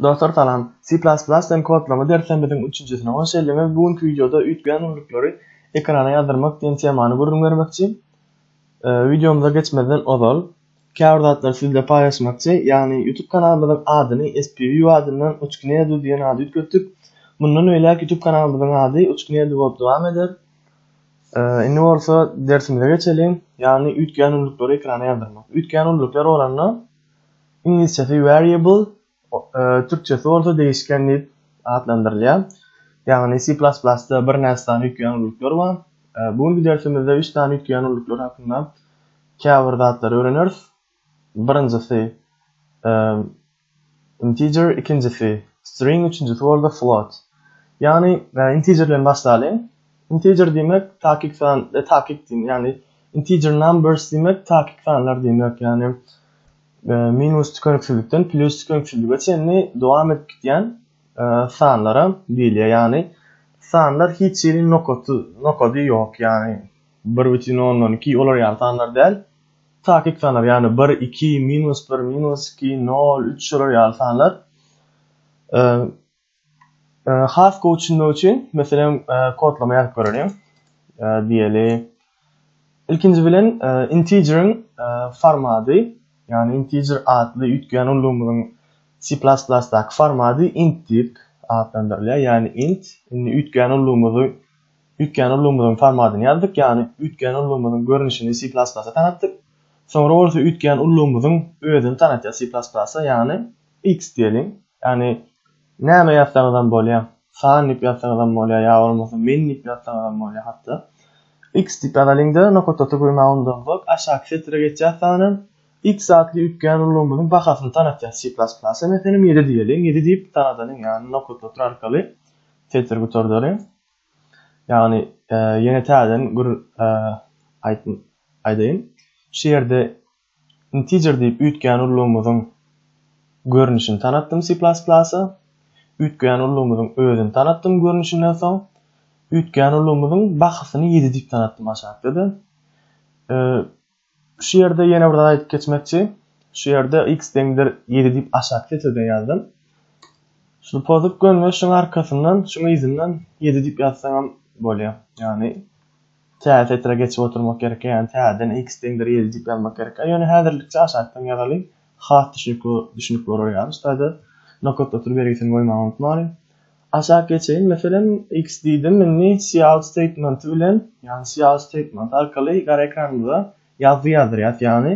Dostlar salam. C++ den kodlama derslerimiziň üçünjisine hoş geldiňiz. Bu günki wideoda üýtgeýän ullukleri ekrana ýazdyrmak diýen temany gürrüň bermekçi. Wideomyza geçmezden ozal, käbir zatlary siz bilen paýlaşmakçy, ýagny YouTube kanalymyzyň adyny SPView adyndan Uçknedu diýen ady üýtgetdik. Mundan beýläk YouTube kanalymyzyň ady Uçknedu bolup dowam eder. Indi bolsa dersimize geçeliň, ýagny üýtgeýän ullukleri ekrana ýazdyrmak. Üýtgeýän ulluklar bolanda, Iňlisçesi variable, türkçesi bolsa degişken diýip atlandyrylýar. Ýagny C++-da birnäçe sany üýtgeýän ulluklar bar. Bu günki dersimizde üç sany üýtgeýän ulluklar hakynda käbir zatlary öwreneris. Birinjisi integer, ikinjisi string, üçünjisi bolsa float. Ýagny integer bilen başlalyň. Integer diýmek takyk san, takyk diýmek, ýagny integer numbers diýmek takyk sanlar diýmek, ýagny minus tükeniksizlikden plus tükeniksizlige çenli dowam edip gitýän sanlara diýilýär. Ýagny sanlar hiç hili nokaty, nokady ýok, ýagny 1,12 olar ýaly sanlar däl. Takyk sanlar, ýagny 1, 2, minus 1, minus 2, 0, 3 şolar ýaly sanlar Has gowy düşünmek üçin, meselem, kodlama ýazyp göreliň. Diýeli, ilkinji bilen integeriň formady, ýagny integer atly üýtgeýän ullugymyzyň C++-daky formady int diýip atlandyrylýar, ýagny int. Indi üýtgeýän ullugymyzy, üýtgeýän ullugymyzyň formadyny ýazdyk, ýagny üýtgeýän ullugymyzyň görnüşini C++-a tanatdyk. Soňra bolsa üýtgeýän ullugymyzyň özüni tanatýar C++-a, ýagny x diýeliň. Ýagny näme ýazsaňyzam bolýar. San diýip ýazsaňyzam bolýar ýa bolmasa men diýip ýazsaňyzam bolýar hatda. X diýip ýazalyňda nokatdaky gymawundansoň aşaky setre geçýär sanam X atly üýtgän ulgamymyzyň bahasyny tanatýar C++ a meselem ýedi diýeliň ýedi diýip tanadalyň ýagny nokatdaky arkaly setri gutardalyň ýagny ýene täzeden gür aýdaýyn şu ýerde Integer diýip üýtgän ullugymyzyň görnüşini tanatdym C++. Üýtgän ullugymyzyň özüni tanatdym görnüşinden soň, üýtgän ullugymyzyň bahasyny ýedi diýip tanatdym aşakda-da. Şu ýerde ýene bir zat aýdyp geçmekçi. Şu ýerde x deňdir ýedi diýip aşak setirden ýazdym. Şunu pozup gönme, şuň arkasyndan, şuň yzyndan ýedi diýip ýazsaňam bolýar. Ýagny Tä setre geçip oturmak gerekkä ýagny täzeden x deňdir ýedi diýip ýazmak gerekkä ýöne häzirlikçe aşakdan ýazalyň has düşnükli düşnük bolar ýaly ştaýda nokat otur bergisini goýmagy unutmalyň aşak geçeýin meselem x diýdim indi cout statementi bilen ýagny cout statementi arkaly gara ekranymyza ýazgy ýazdyrýas ýagny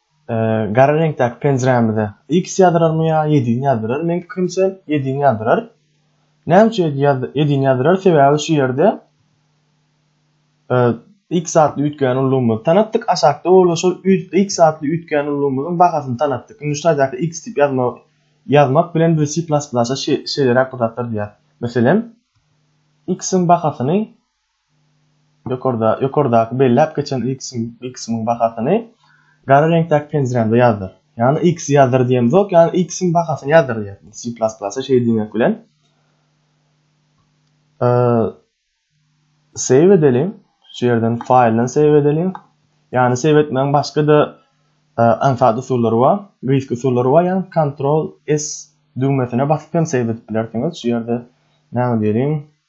gara reňkdäki penjirämize X ýazdyrarmy ýa ýedini ýazdyrar? Meň pikirimçe ýedini ýazdyrar. Näme üçin ýedini ýazdyrar? Sebäbi şu ýerde X atly üýtgän ulgamymyzy tanatdyk. Aşakda bolsa şol X atly üýtgän ulgamymyzyň bahasyny tanatdyk. Indi şu taýdaky X diýip ýazmak ýazmak bilen biz C++-a şeýleräk bir zatlar diýýäs. Meselem, X-iň bahasyny Ýokardaky belläp geçen y kysymyň bahasyny gara reňkdäki penjirämde ýazdyr. Ýagny y kysy ýazdyr diýemzok, ýagny y kysymyň bahasyny ýazdyr diýýär. C plus plus-a şeýle diýmek bilen save edeliň. Şu ýerden faýldan save edeliň. Ýagny save etmegiň başga-da aňsat usullary bar, gyzykly usullary bar. Ýagny Ctrl S düwmesine basyp hem save edip bilersiňiz. Şu ýerde näme diýeliň?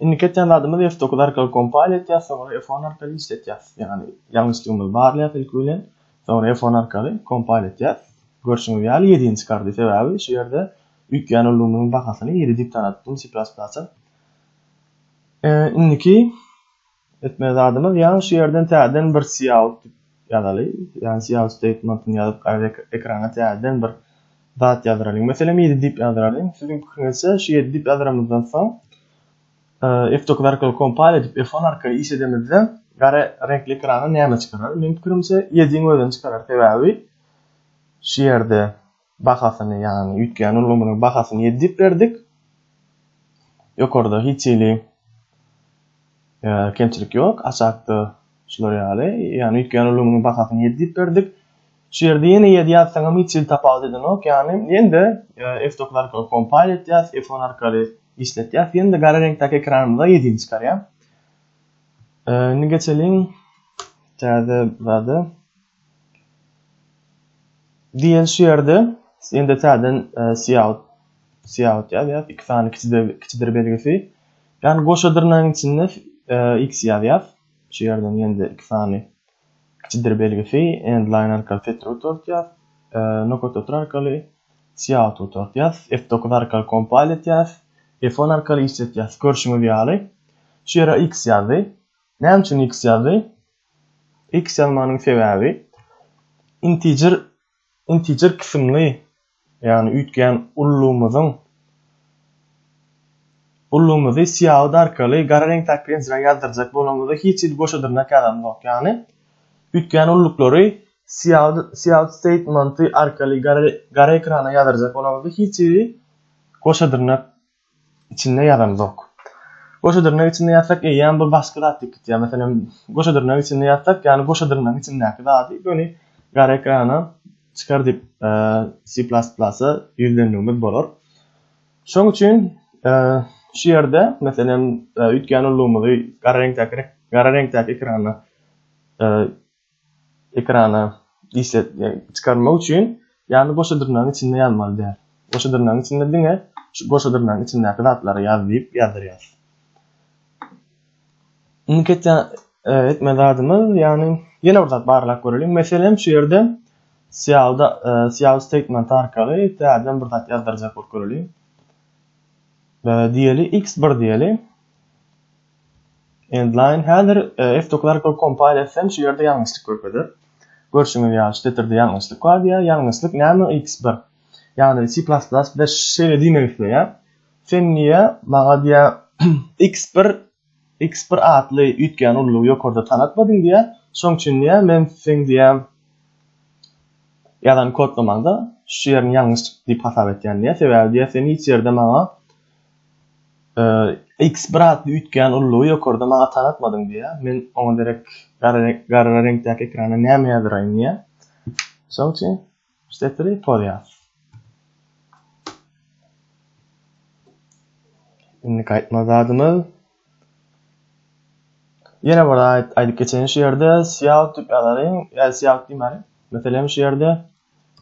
Indiki etýän zadymyz F dokuz arkaly kompal etýär, soňra F on arkaly işletýär. Ýagny ýalňyşlygymyzy barlaýar ilki bilen, soňra F on arkaly kompal etýär. Görşüňiz ýaly ýedini çykardy, sebäbi şu ýerde üýtgän ulgamyň bahasyny ýedi diýip tanadypdym C++-a. Indiki Etmeli zadymyz ýaňy şu ýerden täzeden bir Siout diýip ýazaly. Ýagny Siout statementini ýazyp gaýra ekrana täzeden bir zat ýazdyralyň. Meselem ýedi diýip ýazdyralyň. Siziň pikiriňizçe şu ýedi diýip ýazyramyzdan soň F9 arkaly kompal edip F10 arkaly iş edemizde gara reňkli ekrana näme çykarar? Meniň pikirimçe ýediň özüni çykarar sebäbi şu ýerde Bahasyny, ýagny üýtgän ulgamynyň bahasyny ýedi diýip berdik. Ýokarda hiç hili kemçilik ýok, aşakda şular ýaly, ýagny üýtgän ulgamynyň bahasyny ýedi diýip berdik. Şu ýerde ýene ýedi ýazsaňam hiç hili tapawut edenok, ýagny ýene-de F9 arkaly kompile etýäs, F10 arkaly işletýäs, ýene-de gara reňkdäki ekranymyza ýedini çykarýar. Indi geçeliň täze zada. Diýen şu ýerde indi täzeden e, siýaut siýaut ýazýas, iki sany kiçidir kiçidir belgisi. Ýani goşa dyrnagyň içinde e, x ýazýas. Şu ýerden ýende iki sany kiçidir belgisi end line arkaly setir gutartýas. E, nokat otur arkaly siýaut gutartýas. F9 arkaly kompal etýas. F10 arkaly işletýas. Görşüňiz ýaly. Şu ýere x ýazdy. Näme üçin x ýazdy? X ýazmanyň sebäbi integer integer kysymly ýagny üýtgän ullumyzyň ullumyzy syýagy arkaly gara reňkdäki bilen zra ýazdyrjak bolanymyzda hiç hili goşa dyrnak ýazanymyzok ýagny üýtgän ulluklary syýagy syýagy statementy arkaly gara gara ekrana ýazdyrjak bolanymyzda hiç hili goşa dyrnak içinde ýazanzok. Goşa dyrnak içinde ýazsak eýýäm bir başga zat ýitip gitýär. Meselem, goşa dyrnak içinde ýazsak, ýagny goşa dyrnagyň içindäki zady göni gara ekrana çykar diýip C++-a ýüzlenmegimiz bolar. Şoň üçin şu ýerde meselem üýtgän ullugymyzy gara reňkdäki gara reňkdäki ekrana ekrana işlet çykarmak üçin ýagny goşa dyrnagyň içinde ýazmaly däl. Goşa dyrnagyň içinde diňe şu goşa dyrnagyň içindäki zatlary ýaz diýip ýazdyrýas. Indiki etýän e, etme zadymyz ýagny ýene bir zat barlap göreliň. Meselem şu ýerde syýawda e, syýaw statement arkaly täzeden bir zat ýazdyrjak bolup göreliň. E, diýeli x1 diýeli. Endline häzir F-Doclarco kompaniýasy hem şu ýerde ýalňyşlyk görkezip, görşüňiz ýaly şu setirde ýalňyşlyk bar diýýär, ýalňyşlyk näme X bir, ýagny C++ bize şeýle diýmek isleýär, sen niýe maňa diýýär X bir X bir atly üýtgän ullugy ýokarda tanatmadyň diýýär, şoň üçin diýýär men seň diýýär ýazan kodlamaňda şu ýerini ýalňyş diýip hasap etýän diýýär, sebäbi diýýär sen hiç ýerde maňa Iks braty üýtgän ullugy ýokarda maňa tanatmadyň diýýär. Men oňa derek gara reňkdäki ekrana näme ýazyraýyn diýýär. Şoň üçin Stepri poz ýaz. Indiki aýtmaly zadymyz Ýene bir aýt aýdyp geçen şu ýerde Sýaw tüp ýazaryň, ýa Sýaw diýmäli. Meselem şu ýerde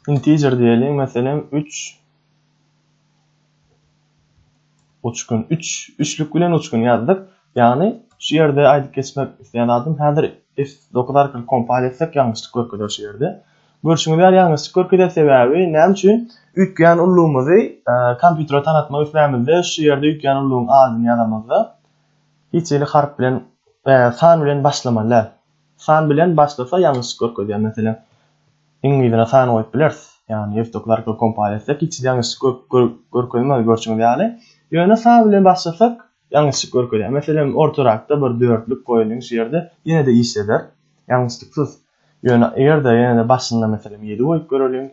integer diýeli, meselem 3 uçgun 3 üçlük bilen uçgun ýazdyk. Ýagny şu ýerde aýdyp geçmek isleýän adym häzir F9 arkaly kompal etsek ýalňyşlyk görkezer şu ýerde. Görşüňiz ýaly ýalňyşlyk görkezýär sebäbi näme üçin üýtgeýän ullugymyzy kompýutere tanatmak islämizde şu ýerde üýtgeýän ullugyň adyny ýazamyzda hiç hili harp bilen san bilen başlamaly däl san bilen başlasa ýalňyşlyk görkezýär meselem iň yzyna san goýup bileris ýagny ýewtokly arkaly kompal etsek hiç hili ýalňyşlyk görkezmez görşüňiz ýaly ýöne san bilen başlasak Ýalňyşlyk görkezýär. Meselem, ortarakda bir dörtlük goýalyň şu ýerde, ýene-de işleder. Ýalňyşlyksyz. Ýöne eger-de ýene-de başynda meselem ýedi goýup göreliň,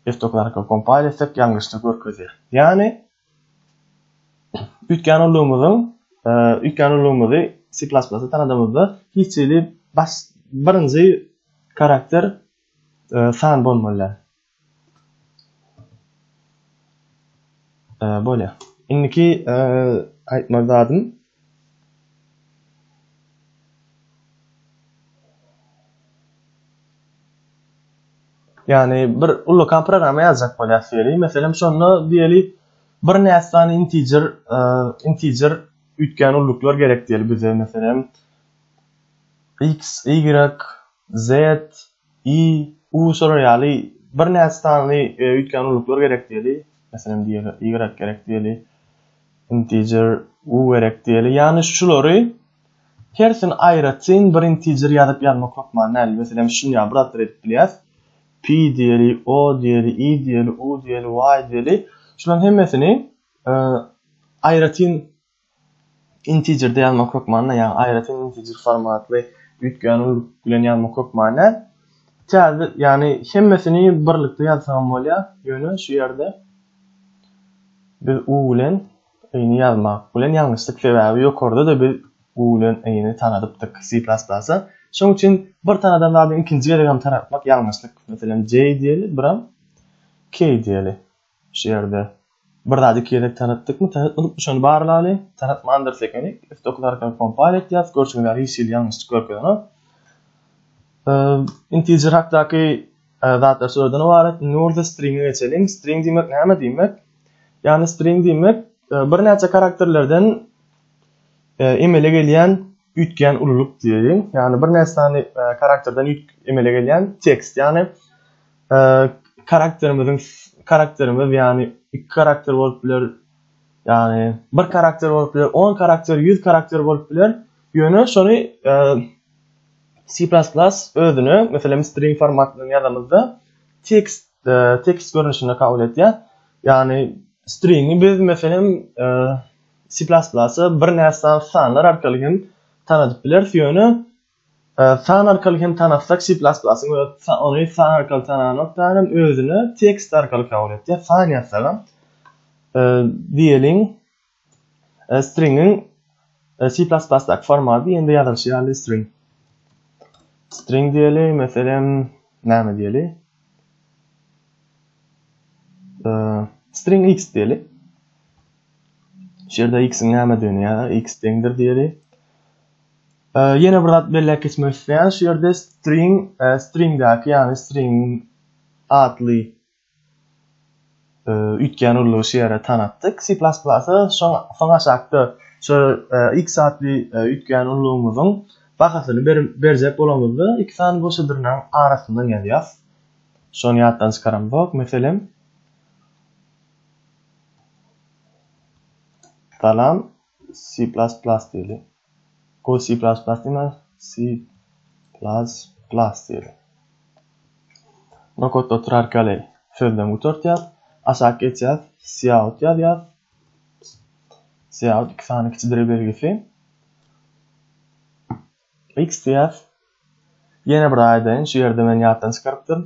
F-doklarka kompal etsek ýalňyşlyk görkezýär. Ýagny üýtgän ulgamymyzyň üýtgän ulgamymyzy C++ tanadymyzda hiç hili baş birinji karakter san bolmaly däl. Ee, bolýa. Indiki aýtmaly zadym Ýani bir ullakan programma ýazjak bolýas diýeli. Meselem şonda diýeli bir näsany integer integer üýtgän ulluklar gerek diýeli bize meselem x y z I, U şolar ýaly birnäçe sany öýtgän ulluklar gerek diýeli, meselem diýeli, Y gerek diýeli, integer, U gerek diýeli, ýagny şulary hersini aýratyn bir integer ýazyp ýazmak hökman däl, meselem şuny ýaly bir zatlar edip bilýäs, Pi diýeli, O diýeli, I diýeli, U diýeli, Y diýeli, şularyň hemmesini aýratyn Intiger-de ýazmak hökmanda, ýagny aýratyn integer formatly üýtgän uly bilen ýazmak hökmanda. Täze, ýagny hemmesini birlikde ýazsagam bolýar, ýöne şu ýerde biz u bilen i-ni ýazmak bilen ýalňyşdyk, sebäbi ýokarda-da biz u bilen i-ni tanadypdyk C++-a. Şonuň üçin bir tanadan zady ikinji gezegem tanatmak ýalňyşlyk. Meselem, J diýeli, biram K diýeli. Şu ýerde bir zady iki gezek taratdykmy, taratmadykmy şony barlaly, taratmandyrys ekenik, üsti okuzarka kompal etýäs, görseň ýaly hiç hili ýalňyşlyk görkezenok. Integer hakdaky zatlar şulardan ybarat. Indi bolsa stringe geçeliň. String diýmek näme diýmek? Ýagny string diýmek birnäçe karakterlerden emele gelýän üýtgän ululyk diýeýin. Ýagny birnäçe sany karakterden emele gelýän tekst. Ýagny karakterimiziň karakterimiz ýagny iki karakter bolup biler ýagny bir karakter bolup biler on karakter ýüz karakter bolup biler ýöne şony e, C++ özüne meselem string formatynda ýazamyzda tekst e, tekst görnüşinde kabul edýär ýagny stringi biz meselem e, C++ bir närsany sanlar arkaly hem tanadyp bileris ýöne San arkaly hem tanasak C++ ony san arkaly tananokdan hem özüne tekst arkaly kabul etýär. San ýazsagam diýeliň stringiň C++ daky formaty ýene-de ýazylyşy ýaly string. String diýeli, meselem, näme diýeli? String x diýeli. Şu ýerde x-iň nämedigini ýa x deňdir diýeli. Ýene bir zat belläp geçmek isleýän, şu ýerde string, stringdäki, ýagny string atly üýtgän urlugy şu ýere tanatdyk. C++ soň aşakda şu x atly üýtgän urlugymyzyň bahasyny berjek bolanymyzda iki sany goşa dyrnagyň arasyndan ýazýas. Şony ýatdan çykaramzok. Meselem, salam, C++ diýeli. Go C++ diýme, C++ diýeli. Nokotda oturarka ýaly sözden gutartýas. Aşak geçýäs, cout ýazýas. Cout iki sany kiçidire belgisi. X diýýäs. Ýene bir aýdaýyn, şu ýerde men ýatdan çykarypdyryn.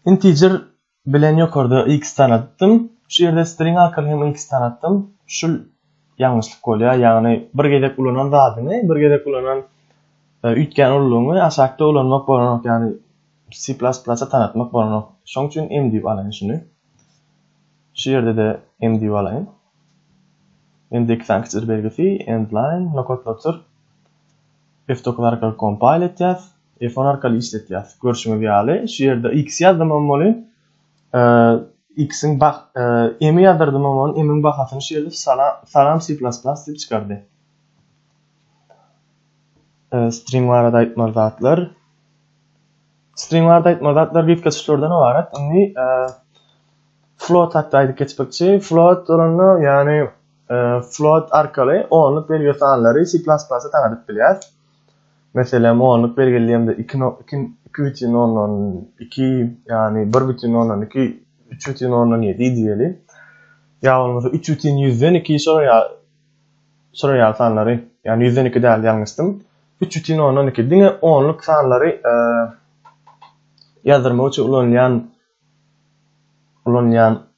Integer Bilen ýokarda X tanatdym. Şu ýerde string arkaly hem X tanatdym. Şul ýalňyşlyk bolýar. Ýagny bir gezek ulanan zadyňy, bir gezek ulanan e, üýtgän ululygyňy aşakda ulanmak bolanok. Ýagny C++ tanatmak bolanok. Şoň üçin M diýip alaýyn şuny. Şu ýerde de M diýip alaýyn. M de iki sany kiçijir belgisi, endline, nokatlatyr. F9 arkaly kompile etýäs. Iphone arkaly işletýas. Görşüňiz ýaly, şu ýerde X ýazdymam boly. X-iň bah, M-i ýazdyrdyma boly, M-iň bahasyny şu ýerde Salam C++ diýip çykardy. String barada aýtmaly zatlar. String barada aýtmaly zatlar gitge çyşlardan ibarat. Indi float hakda aýdyp geçmekçi. Float bolanda, ýagny float arkaly onluk belgili sanlary C++-da tanadyp bilýäs. Meselem, onluk belgileýämde iki no, iki, iki bütin ondan iki, ýagny bir bütin ondan iki, üç bütin ondan ýedi diýeli. Ýa bolmasa üç bütin ýüzden iki şolar ýa şolar ýaly sanlary, ýagny ýüzden iki däl ýalňyşdym. Üç bütin ondan iki diňe onluk sanlary e, ýazdyrmak üçin ulanylýan ulanylýan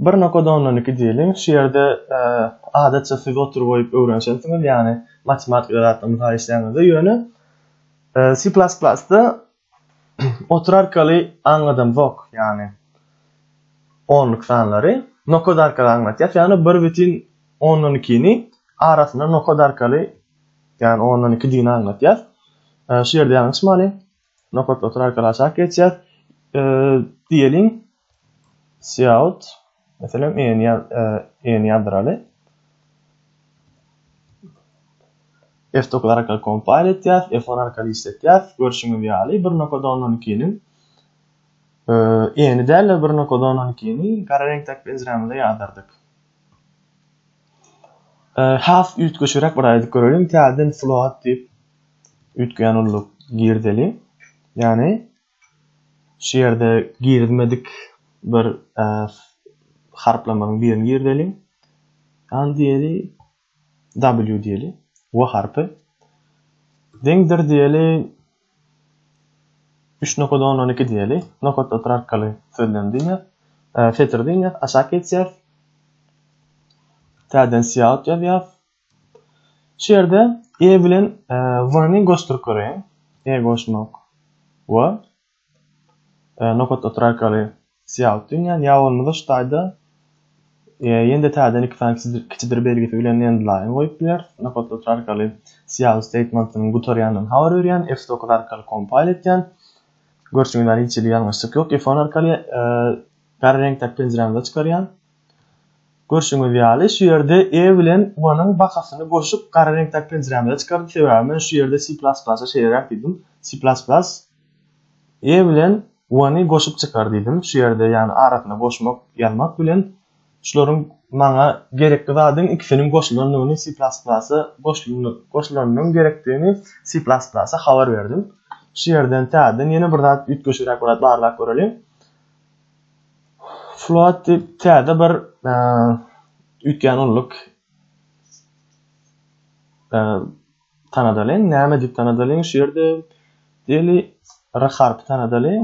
Bir nokada ondan iki diýeliň. Şu ýerde adatça siz otur goýup öwrenişensiňiz, ýagny matematika zatlaryny gaýyşlaýaňyzda, ýöne C++-da otur arkaly aňladamzok, ýagny onluk sanlary nokada arkaly aňlatýas, ýagny bir bitin ondan ikini arasyna nokada arkaly, ýagny ondan iki digini aňlatýas. Şu ýerde ýalňyşmaly. Nokat otur arkaly aşak geçýär. E, diýeliň Cout meselem en ýaz e, en ýazdyraly. F9 arkaly kompile etýär, F10 arkaly işletýär. Görşüňiz ýaly bir nokat 12-niň e, eni däl bir nokat 12-ni gara reňkdäki penjiremizde ýazdyrdyk. E, has üýtgeşigräk bir aýdyp görelim. Täzeden float diýip Üýtgän ulluk girdeli. Ýagny şu ýerde girizmedik bir harplamanyň birini girdeliň. Al diýeli W diýeli. W harpy. Deňdir diýeli 3 nokada 10 12 diýeli. Nokatda otur arkaly sözlem diýýär. Setir diýýär. Aşak geçýär. Täzeden siýahat ýazýar. Şu ýerde E bilen W-ni goşduryp göreýin. E goşmak W. Nokat otur arkaly syýalyk dünýän ýa bolmasa şu taýda ýende täzeden iki sany kiçidir belgisi bilen endline goýup bileris. Nokat otur arkaly syýalyk statementiniň gutarýandan habar berýän. F9 arkaly kompile etýän. Görşüňiz ýaly hiç hili ýalňyşlyk ýok. F10 arkaly gara reňkdäki penjirämize çykarýan. Görşüňiz ýaly, şu ýerde E bilen Y-nyň bakasyny goşup, gara reňkdäki penjirämize çykardy, sebäbi men şu ýerde C++ şeýleräk diýdim. C++ E bilen Y-ny goşup çykar diýdim. Şu ýerde, ýagny arasyna goşmak, ýazmak bilen şularyň maňa gerekli zadyň ikisiniň goşulandygyny C++ goşulanynyň gerekdigini C++ habar berdim. Şu ýerden täzeden ýene bir zat üýtgeşigräk bir zat barlap göreliň. Float diýip täze bir üýtgän ulluk tanadalyň. Näme diýip tanadalyň? Şu ýerde diýeli R harpy tanadalyň.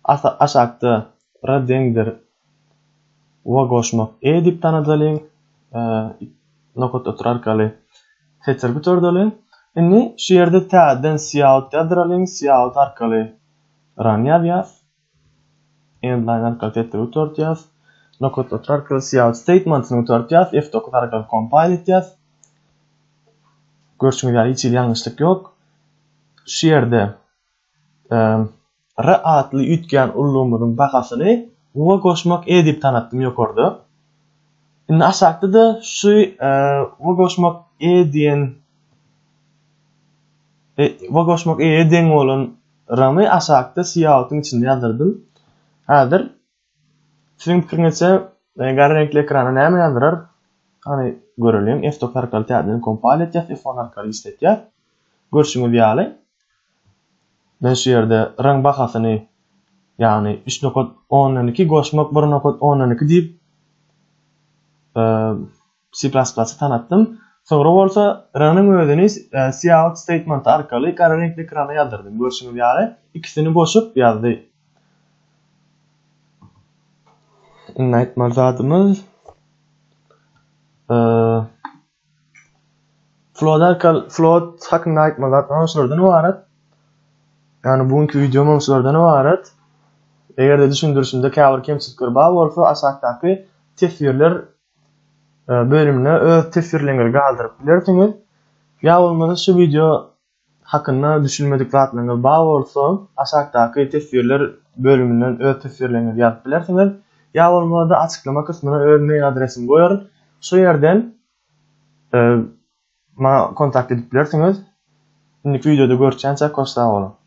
Asa aşakda R deňdir we goşmak E diýip tanadalyň. Nokat otur arkaly setir bitordalyň. Indi şu ýerde täzeden cout ýazdyralyň. Cout arkaly run ýazýas. Endline arkaly setleri gutardýas. Nokat satry arkaly cout statementyny gutardýas. F9 arkaly compile etýas. Görşüňiz ýaly hiç hili ýalňyşlyk ýok. Şu ýerde R atly üýtgän ullumyzyň bahasyny Uga goşmak E diýip tanatdym ýokarda. Indi aşakda-da şu Uga goşmak E diýen Uga goşmak E deň bolan Ramy aşakda syýahatyň içinde ýazdyrdym. Häzir Siziň pikiriňizçe garry reňkli ekrana näme ýazdyrar? Hany göreliň. F-top arkaly täzeden kompal etýäs, F-on arkaly işletýäs. Görşüňiz ýaly men şu ýerde raň bahasyny ýagny üç nokat ondan iki goşmak bir nokat ondan iki diýip C++ tanatdym. Soňra bolsa ranyň özüni cout statement arkaly gara reňkli ekrana ýazdyrydym. Görşüňiz ýaly, ikisini goşup ýazdy. Iň aýtmaly zadymyz float arkaly float hakynda aýtmaly zatlarym şulardan ibarat. Ýani bu günki wideom şulardan ibarat. Eger-de düşündirişimde käbir kemçilikler bar bolsa, aşakdaky teswirler bölümine öz teswirleriňizi galdyryp bilersiňiz. Ýa bolmasa şu wideo hakynda düşünmedik zatlaryňyz bar bolsa, aşakdaky teswirler bölüminden öz teswirleriňizi ýazyp bilersiňiz. Ýa bolmasa açyklama kysmyna öz mail adresimi goýaryn. Şu ýerden maňa kontakt edip bilersiňiz. Indiki wideoda görüşýänçä koş sag boluň.